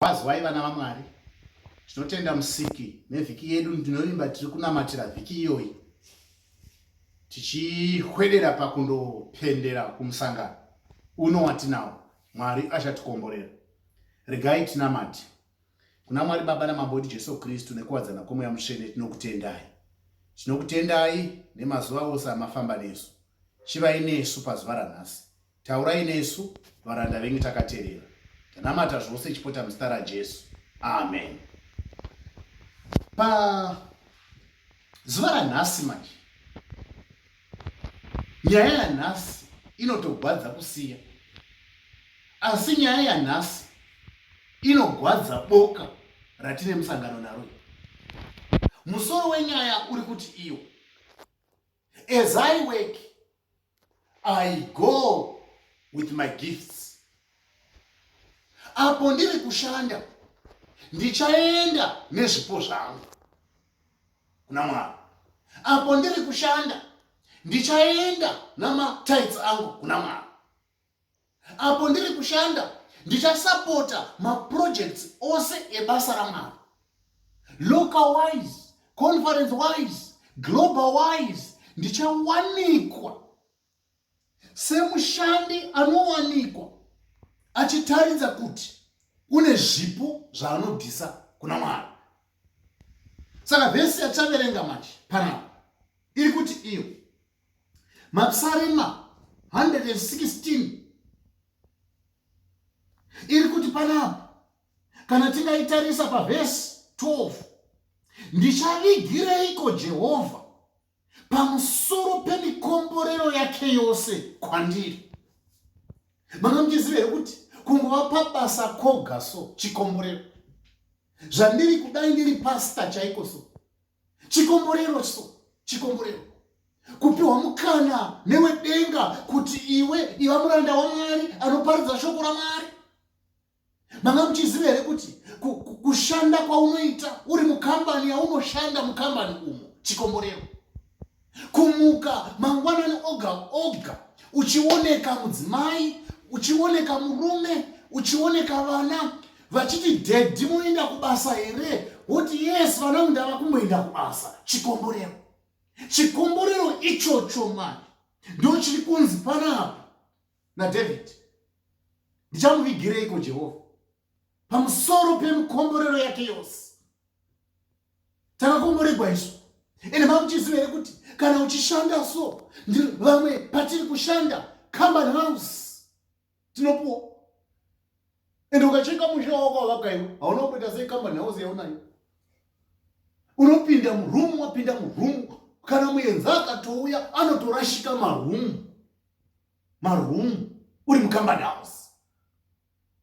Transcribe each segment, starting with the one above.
Wazwai vana vaMwari, tinotenda musiki nevhiki yedu. Ndinovimba tiri kunamatira vhiki iyoyi tichihwedera pakundopendera kumusangano uno watinawo. Mwari achatikomborera. Regai tinamati kuna Mwari Baba naMambodi Jesu Kristu nekuwadzana kwemweya mutsvene. Tinokutendai, tinokutendai nemazuva ose amafamba nesu. Chivai nesu pazuva ranhasi, Taurai nesu varanda venyu takaterera. Tanamata zvose chipota muzita raJesu. Amen. Pa zuva ranhasi manje nyaya yanhasi inotogwadza kusiya asi nyaya yanhasi inogwadza boka ratine musangano naro musoro wenyaya uri kuti iyo as i work I go with my gifts. Apo ndiri kushanda ndichaenda nezvipo zvangu kuna Mwari. Apo ndiri kushanda ndichaenda namatites angu kuna Mwari. apo ndiri kushanda ndichasapota maprojects ose ebasa ramwari local wise conference wise global wise ndichawanikwa semushandi anowanikwa achitaridza kuti une zvipo zvaanobvisa kuna mwari saka vhesi yatichaverenga manje panapa iri kuti iyo mapsarema 116 iri kuti panapa kana tingaitarisa pavhesi 12 ndichavigireiko jehovha pamusoro pemikomborero yake yose kwandiri manomuchiziva here kuti kungova pabasa koga so chikomborero zvandiri kudai ndiri pasta chaiko so chikomborero so chikomborero kupiwa mukana newedenga kuti iwe iva muranda wamwari anoparidza shoko ramwari manga muchiziva here kuti kushanda kwaunoita uri mukambani yaunoshanda mukambani umo chikomborero kumuka mangwanani oga oga uchioneka mudzimai uchioneka murume uchioneka vana vachiti dhedhi munoenda kubasa here woti yes vana mundava kumboenda kubasa chikomborero chikomborero ichocho mani ndo chiri kunzi panapa nadavid ndichamuvigireiko jehovha pamusoro pemukomborero yake yose takakomboregwa isu ende makuchiziva here kuti kana uchishanda so vamwe patiri kushanda company house tinopuwa ende ukacheka musha wako wavakaiwa hauna kuita sei company house yaunayo unopinda murumu wapinda murumu kana muenzi akatouya anotorashika marumu marumu uri mucompany house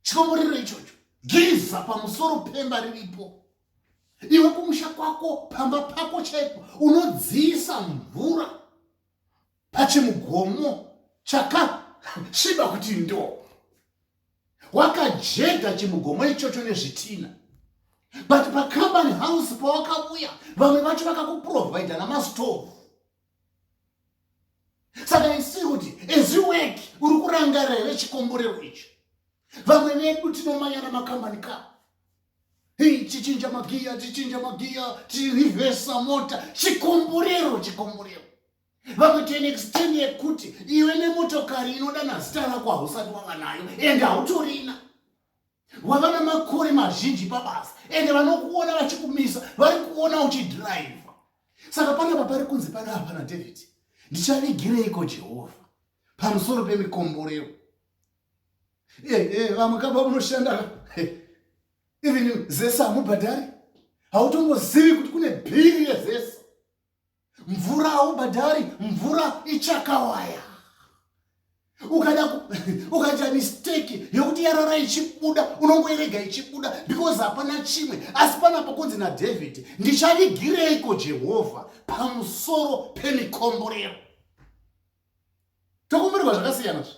chikomborero ichocho giza pamusoro pemba riripo iwe kumusha kwako pamba pako chaiko unodziisa mvura pachimugomo chakasviba kuti ndo wakajega chimugomo ichocho nezvitina but pacompany house pawakavuya vamwe vacho vakakuprovidha namastovhu saka isi kuti as you work uri kurangarira here chikomborero icho vamwe vedu tinomanyana makambani ka hei chichinja magiya chichinja magiya tirivhesa mota chikomborero chikomborero vamwe to an extend yekuti iwe nemotokari inodana zita rako hausati wava nayo ende hautorina wava namakore mazhinji pabasa ende vanokuona vachikumisa vari kuona uchidhiraivha saka panapa pari kunzi pana hapana david ndichavigireiko jehovha pamusoro pemikomborero eh, eh, vamwe kaba unoshanda eh, even zesa hamubhadhari hautongozivi kuti kune bhiri rezesa mvura haubhadhari mvura ichakawaya ukada ukaita mistake yekuti yarara ichibuda unongoirega ichibuda because hapana chimwe asi pana pakunzi nadavid ndichavigireiko jehovha pamusoro pemikomborero tokomborerwa zvakasiyana zve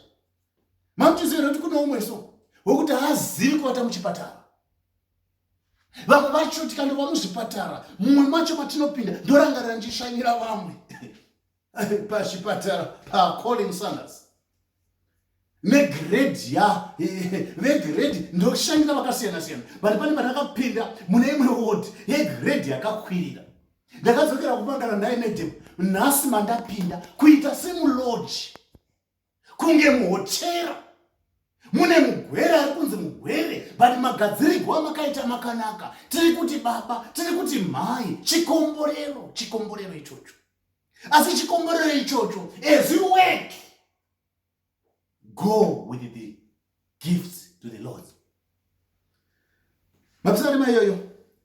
mamutiziva nekuti kune umwe so wekuti haazivi kuvata muchipatara vamwe vacho tikandova muzvipatara mumwe macho matinopinda ndorangarira ndichishanyira vamwe pachipatara pacolin sanders negredi ya vegredi ndoshanyira vakasiyana siyana but pane pandakapinda mune imwe wod yegredi yakakwirira ndakadzokera kumagara naye medem nhasi mandapinda kuita semuloji kunge muhotera mune mugwere ari kunzi mugwere but magadzirirwo amakaita makanaka tiri kuti baba tiri kuti mhai chikomborero chikomborero ichocho asi chikomborero ichocho as you work go with the gifts to the lord mapisarima iyoyo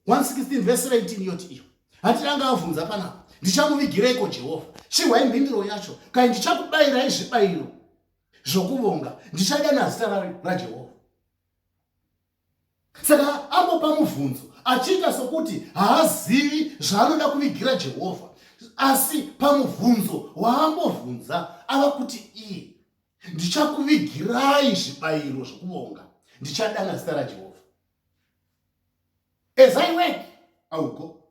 116 vese 19 yoti iyo hatiri anga avhunza panapa ndichamuvigireiko jehovha chihwai mhinduro yacho kai ndichakubayirai zvibayiro zvokuvonga ndichadana zita rajehovha saka amopa mubvunzo achiita sokuti haazivi zvaanoda kuvigira jehovha asi pamubvunzo waambobvunza ava kuti iye ndichakuvigirai zvibayiro zvokuvonga ndichadana zita rajehovha as i work i will go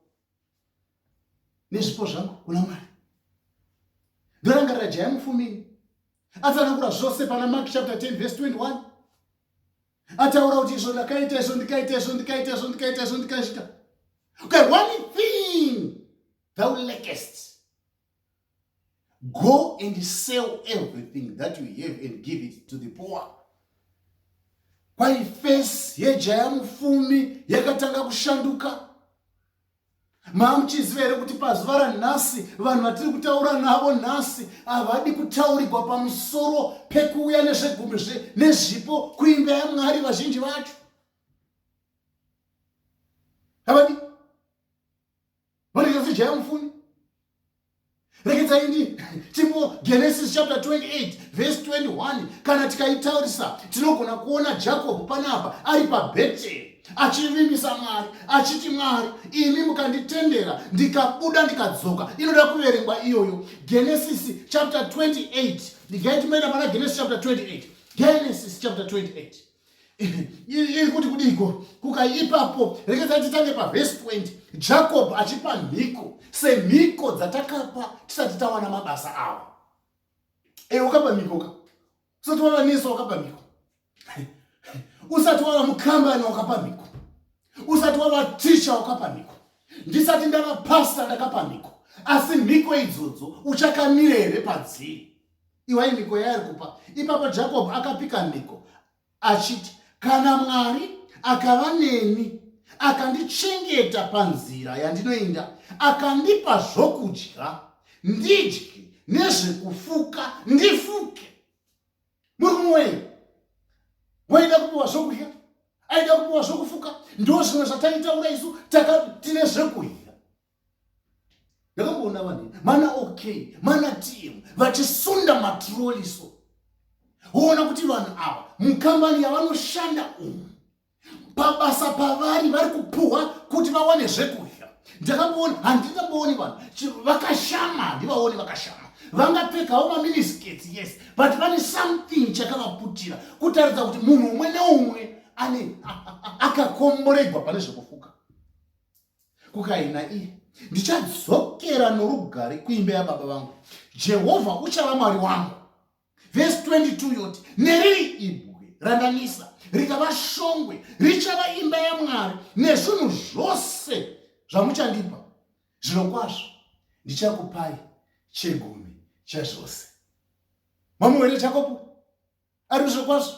nezvipo zvangu kuna mwari ndorangarira jaya mufumini atsanangura zvose pana mark chapter 10 verse 21 ataura kuti izvo ndakaita izvo ndikaita izvo ndikaita izvo ndikaita izvo ndikazvita okay one thing thou lackest go and sell everything that you have and give it to the poor kwaifesi yejaya mufumi yakatanga kushanduka Mamuchiziva here kuti pazuva ranhasi vanhu vatiri kutaura navo nhasi havadi kutaurigwa pamusoro pekuuya nezvegumi zve nezvipo kuimba yamwari vazhinji vacho havadi vanoita sejaya mufuni rekedzai ndi tipo genesis chapter 28 verse 21 kana tikaitaurisa tinogona kuona jakobho panapa ari pabheteri achivimbisa mwari achiti mwari imi mukanditendera ndikabuda ndikadzoka inoda kuverengwa iyoyo genesis chapter 28 ndigaitimaenda pana genesis chapter 28 genesis chapter 28 iri kuti kudiko kuka ipapo rekedza titange pavhesi 20 jacob achipa mhiko semhiko dzatakapa tisati tawana mabasa avo e eh, ukapa mhiko ka usati wava nesu wakapa mhiko usati wava mukambani wakapa mhiko usati wava ticha wakapa mhiko ndisati ndava pasta ndakapa mhiko asi mhiko idzodzo uchakamirere padziri iwai mhiko yaari kupa ipapo jacob akapika mhiko achiti kana mwari akava neni akandichengeta panzira yandinoinda akandipa zvokudya ndidye nezvekufuka ndifuke muri kumwei waida kupiwa zvokudya aida kupiwa zvokufuka ndo zvimwe zvataitaura isu tine zvekuhira ndakamboona vanhu mana okay mana tm vachisunda matroliso woona kuti vanhu ava mukambani yavanoshanda umu pabasa pavari vari kupuhwa kuti vawane zvekudya ndakamboona handingambooni vanhu vakashama handivaoni vakashama vangapfekawo maminiskets yes but vane something chakavaputira kutaridza kuti munhu umwe neumwe ane akakomboregwa pane zvekufuka kukaina iye ndichadzokera norugare kuimba yababa vangu jehovha uchava mwari wangu vhesi 22 yoti neriri ibwe randanisa rikava shongwe richava imba yamwari nezvinhu zvose zvamuchandipa zvinokwazvo ndichakupai chegumi chezvose mamuwere chakopo ari zvokwazvo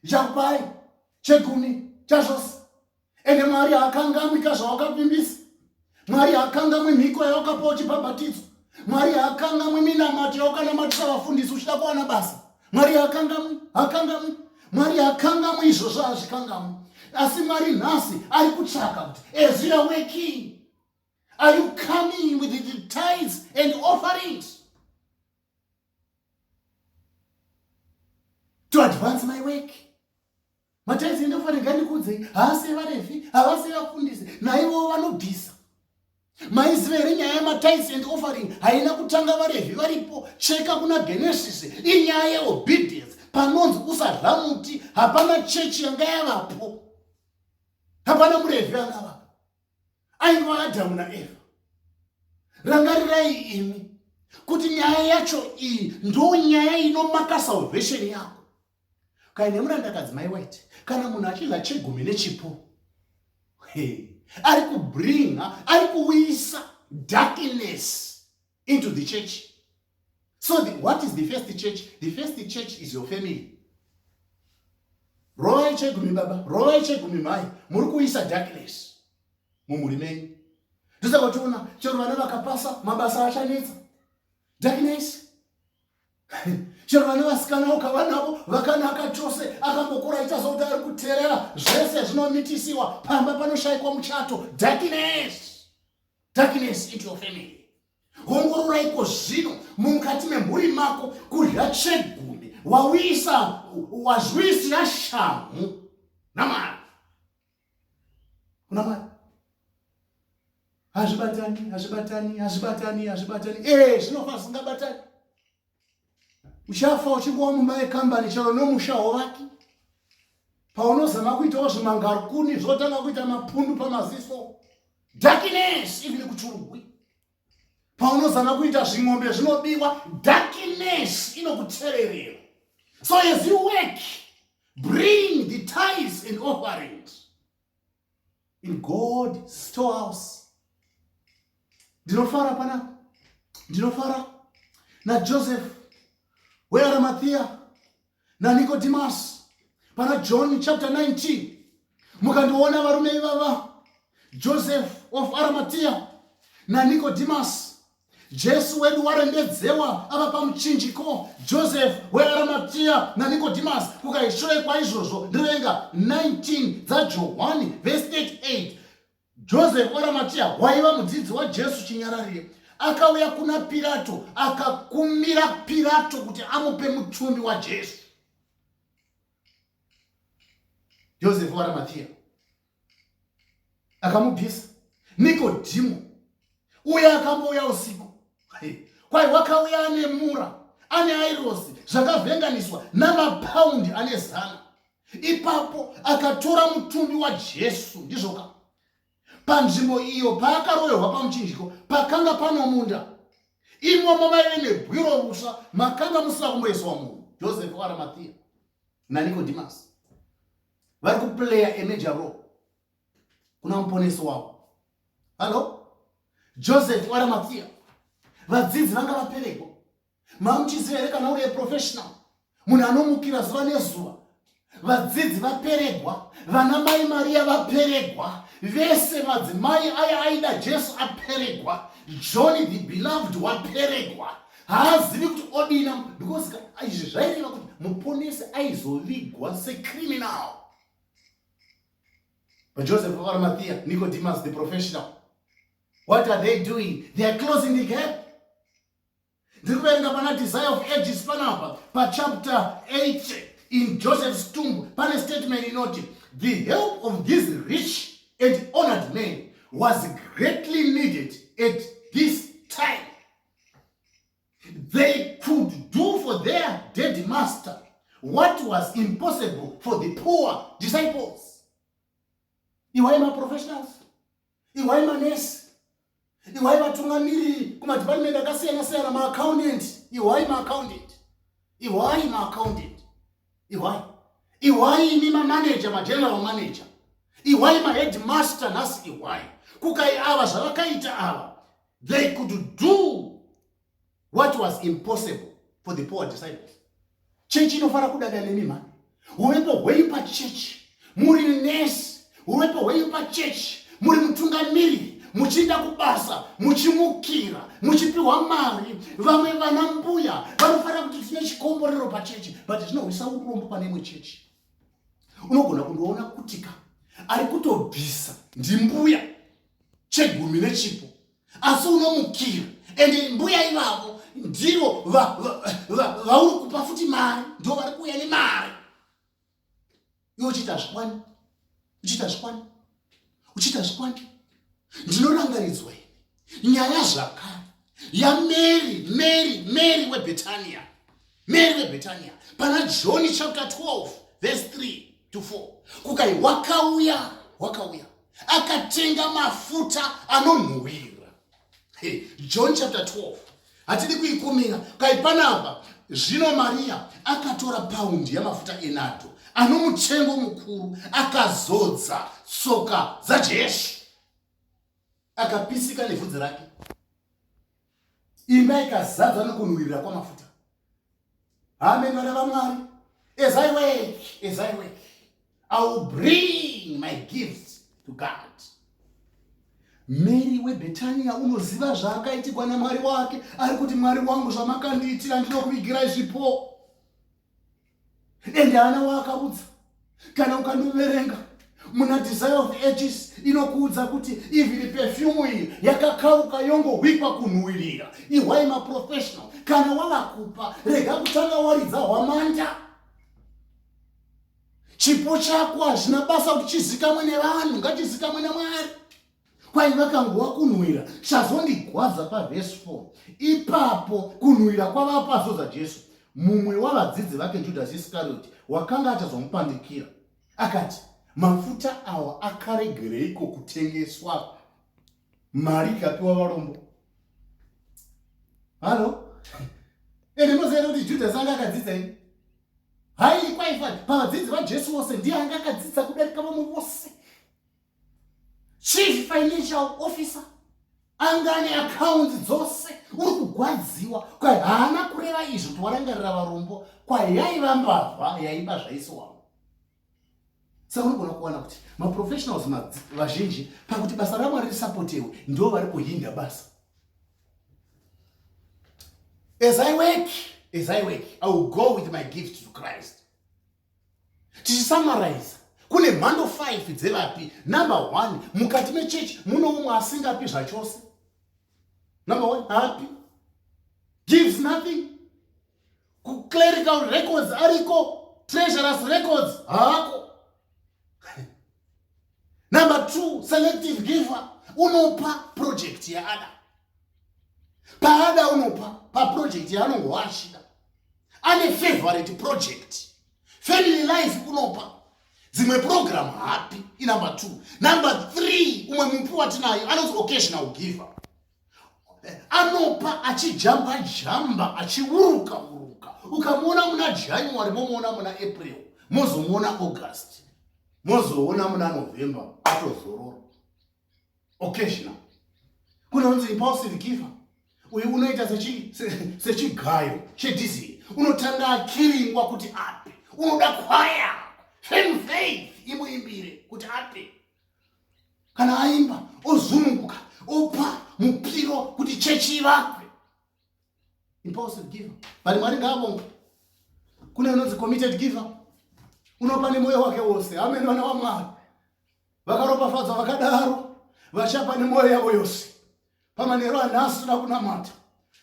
chakupai chegumi chazvose ende mwari haakangamwi ka zvawakavimbisa mwari haakangamwi mhiko yawakapa uchibhabhatidzwa mwari haakangamwi minamato yawakanamatisa vafundisi uchida kuwana basa mwari haakangamwi haakangamwi mwari haakangamwi izvozvo hazvikangamwi asi mwari nhasi ari kutsvaka kuti as you are working are you coming with the tithes and offerings to advance my work mataizi enda kuvarega ndikuudzei haase varevi havase vafundisi naivowo vanobvisa maiziva here nyaya yematice and offering haina kutanga varevhi varipo cheka kuna genesis inyaya yeobedience panonzi usarha muti hapana chechi yanga yavapo hapana murevhi angavapo aingova adhamu naeva rangarirai imi kuti nyaya yacho iyi ndo nyaya inomaka salvation yako kana nemurandakadzi mai white kana munhu achidla chegumi nechipo hey. ari kubringa ari kuuyisa darkness into the church so the, what is the first church the first church is your family rovai chegumi baba rovai chegumi mai muri kuisa darkness mumhuri menyu ndosaka tiona chero vana vakapasa mabasa achanetsa darkness chero vana vasikana ukavanavo vakanaka chose akambokura aita sokuti ari kuterera zvese zvinomitisiwa pamba panoshayikwa muchato darkness darkness into your family ongororaiko zvino mukati memhuri mako kudya chegumi wawisa wazwisira shamhu namwari kuna mwari hazvibatani hazvibatani hazvibatani hazvibatani ee eh, zvinofa zvisingabatani uchafa uchingova mumba yekambani chero nomusha wovaki paunozama kuitawo zvimangarukuni zvotanga kuita mapundu pamaziso darkness even kuchurugwi paunozama kuita zving'ombe zvinobiwa darkness inokutsererera so as you work bring the ties and offerings in god storehouse ndinofara panapa ndinofara najoseph wearamathiya nanikodhimasi pana john chapter 19 mukandiona varume ivava joseph of aramatiya nanikodhimasi Jesu wedu warembedzewa ava pamuchinjiko Joseph weAramatia naNicodemus kukaishoe kwaizvozvo ndivenga 19 dzaJohwani vhesi 38 Joseph weAramatia waiva mudzidzi waJesu chinyararire akauya kuna Pirato akakumira Pirato kuti amupe mutumbi waJesu Joseph weAramatia akamubvisa nikodhimu uye akambouya usiku kwai wakauya ane mura ane airosi zvakavhenganiswa namapaundi ane zana ipapo akatora mutumbi wajesu ndizvoka panzvimbo iyo paakaroverwa pamuchinjiko pakanga panomunda imomo maive nebwiro rusva makanga musina kumboiswa munhu josefu arimathiya nanikodhimasi vari kuplaya emeja ro kuna muponesi wavo hallo joseph waramapfiya vadzidzi vanga vaperepo mamuchiziva here kana uri eprofessional munhu anomukira zuva nezuva vadzidzi vaperegwa vana mai mariya vaperegwa vese madzimai aya aida jesu aperegwa johni the beloved waperegwa haazivi kuti odina because izvi zvaireva kuti muponesi aizovigwa secriminal vajoseph vavaramathiya nicodemus the professional what are they doing they are closing the gap ndiri kuverenga pana desire of ages panapa pachapter 8 in joseph's tomb pane statement inoti the help of this rich and honored man was greatly needed at this time they could do for their dead master what was impossible for the poor disciples iwai maprofessionals iwai manesi iwai vatungamiriri kumadhipatimenti akasiyana siyana maaccountant iwai maaccountant iwai maaccountant iwai iwai imi mamaneja mageneral manager iwai maheadmaster nhasi iwai kukai ava zvavakaita ava They could do what was impossible for the poor disciples. Chechi inofara kudada nemi mhani. Uvepo hwenyu pachechi muri nesi, uvepo hwenyu pachechi muri mutungamiri, muchienda kubasa, muchimukira, muchipiwa mari. Vamwe vana mbuya vanofara kuti tine chikomborero pachechi, but tinohwisa urombo pane imwe chechi. Unogona kundoona kutika ari kutobvisa ndimbuya chegumi nechipo asi unomukira ende mbuya ivavo ndivo vauri kupa futi mari ndo vari kuuya nemari iwe uchiita zvikwani uchiita zvikwani uchiita zvikwani ndinorangaridzwa ini nyaya zvakare yamary mary mary webetania Mary veBhetania pana John chapter 12 verse 3 to 4 kukai wakauya wakauya akatenga mafuta anonhuhwira hey, John chapter 12 hatidi kuikumira kai panapa zvino Maria akatora paundi yamafuta enado anomutengo mukuru akazodza tsoka dzaJesu akapisika nevhudzi rake imba ikazadzwa nekunhuwirira kwamafuta amen vana vamwari as i work as i work i will bring my gifts to god mary webetania unoziva zvaakaitigwa namwari wake ari kuti mwari wangu zvamakandiitira ndinokuvigirai zvipo ende haana waakaudza kana ukandoverenga muna desire of ages inokuudza kuti even pefyumu iyi yakakauka yongohwikwa kunhuwirira ihwai maprofessional kana wavakupa rega kutanga waridza hwamanda chipo chako hazvina basa kuti chizikamwe nevanhu ngachizikamwe namwari kwai vakangova kunhuhwira chazondigwadza pavhesi 4 ipapo kunhuhwira kwavava pazoza jesu mumwe wavadzidzi vake judhasi iskarioti wakanga achazomupandikira akati mafuta awa akaregereiko kutengeswa mari ikapiwa varombo halo ende moziva kuti judhasi anga akadzidza ini haii kwaifani pavadzidzi vajesu vose ndiye anga akadzidza kudarika vamwe vose chief financial officer anga ane akaunti dzose uri kugwadziwa kwa haana kureva izvo kuti warangarira varombo kwayaiva mbavha yaiba zvaisowawo saka unogona kuwana kuti maprofessionals vazhinji pakuti basa ramwari risapotewe ndo vari kuhinda basa as i work as i work i will go with my gift to christ tichisamaraiza kune mhando 5 dzevapi number one mukati mechechi muno umwe asingapi zvachose number one haapi gives nothing kuclerical records ariko treasurers records haako number two selective giver unopa project yaada paada unopa paproject yaanongowa achida ane favorite project family life kunopa dzimwe program hapi inumber two number three umwe mupi watinayo anonzi occasional giver anopa achijamba jamba achiuruka uruka ukamuona muna january momuona muna april mozomuona august mozoona muna november atozorora occasional kunonzi impulsive giver uyu unoita sechigayo chedizii unotanga akiringwa kuti ape unoda kwaya femfaith imuimbire kuti ape kana aimba ozunguka opa mupiro kuti chechi ivakwe impulsive giver but mwari ngaavonga kune unonzi committed giver unopa nemoyo wake wose amene vana wamwari vakaropafadzwa vakadaro vachapa nemwoyo yavo yose pamanheru anhasi toda kunamata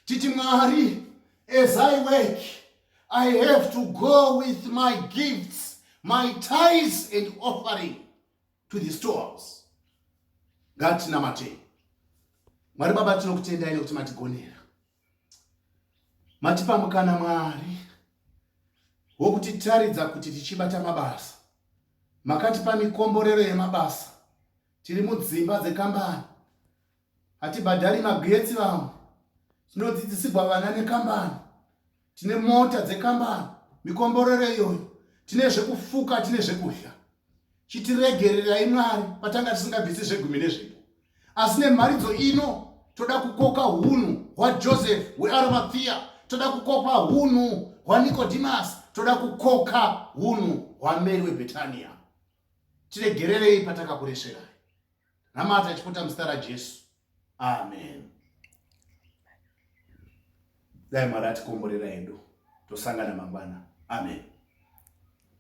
titi mwari as i work i have to go with my gifts my ties and offering to the storehouse ngatinamatei mwari baba tinokutendai nekuti matigonera matipa mukana mwari wokutitaridza kuti tichibata mabasa makatipa mikomborero yemabasa tiri mudzimba dzekambani hatibhadhari magetsi vamwe tinodzidzisigwa vana nekambani tine mota dzekambani mikomborero iyoyo tine zvekufuka tine zvekudya chitiregererai mwari patanga tisingabvisi zvegumi nezvipo asi nemharidzo ino toda kukoka hunhu hwajoseph hwearamathia toda kukoka hunhu hwanikodimasi toda kukoka hunhu hwameri webhetaniya tiregererei patakakuresverai namata chipota muzita rajesu amen dai mwari atikomborera hedu tosangana mangwana amen